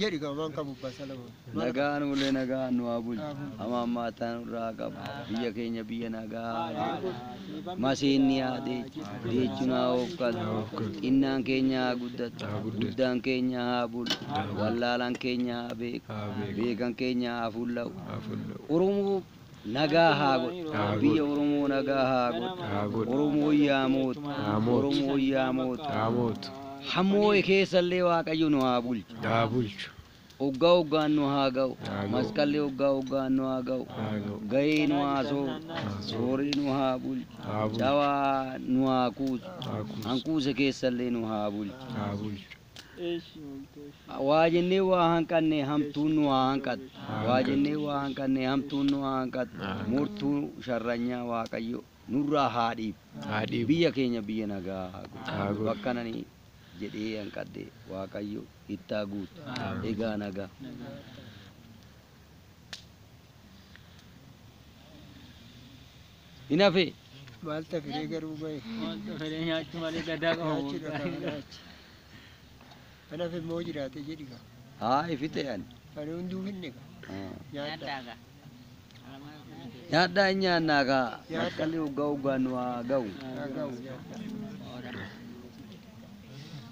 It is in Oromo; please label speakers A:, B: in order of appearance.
A: Jedhi gaa
B: waan qabu abbaa isaa lama. Nagaa nuulee
C: nagaan nu haa bulchu. Hamaa hammaataa nurraa haa qabu. Biyya keenya biyya nagaa haa godhu. Maseenni haa deechu. Deechuun haa hoofkatu. Xinnaan keenya haa guddatu. Guddaan keenya haa bulu. Wallaalaan keenya haa beeku. Beekan keenya haa fulla'u. Oromoo Nagaa haa godhu. Biyya Oromoo nagaa haa godhu. Oromoon yaa mootu. Oromoon yaa mootu. Hammoo'e keessa illee Waaqayyo nu haa bulchu.
A: Oggaa oggaan
C: nu haa ga'u. Masqalli oggaa oggaan nu haa ga'u. Gayee nu haa sooru. Sooree nu haa bulchu. Cawaa nu haa kuusu. Hankuuse keessa illee nu haa bulchu. Waa jennee waa hanqanne hamtuun nu haa hanqattu. Waa jennee waa hanqanne hamtuun nu haa hanqattu. Mortuu sharranyaa Waaqayyo nurraa haa dhiibu. Biyya keenya biyya nagaa haa godhu. Bakkan ani jedhee hanqadhe Waaqayyo itti haa guutu. Egaa nagaa. Hin hafee. Maal tafiree
B: garuu bahe. Maal tafiree nyaachuu
D: malee gadaa qabu. Nyaachuu dhagaa nyaachuu.
B: Kan hafe immoo jiraate jedhi gaa. Haa ifite ani.
C: Ani hunduu finne
B: gaa. Ah. Nyaadhaa gaa.
C: Nyaadhaa hin
B: nyaannaa
C: gaa. Masqalli hoggaa hoggaan nu haa ga'u. Haa ga'u nyaadhaa.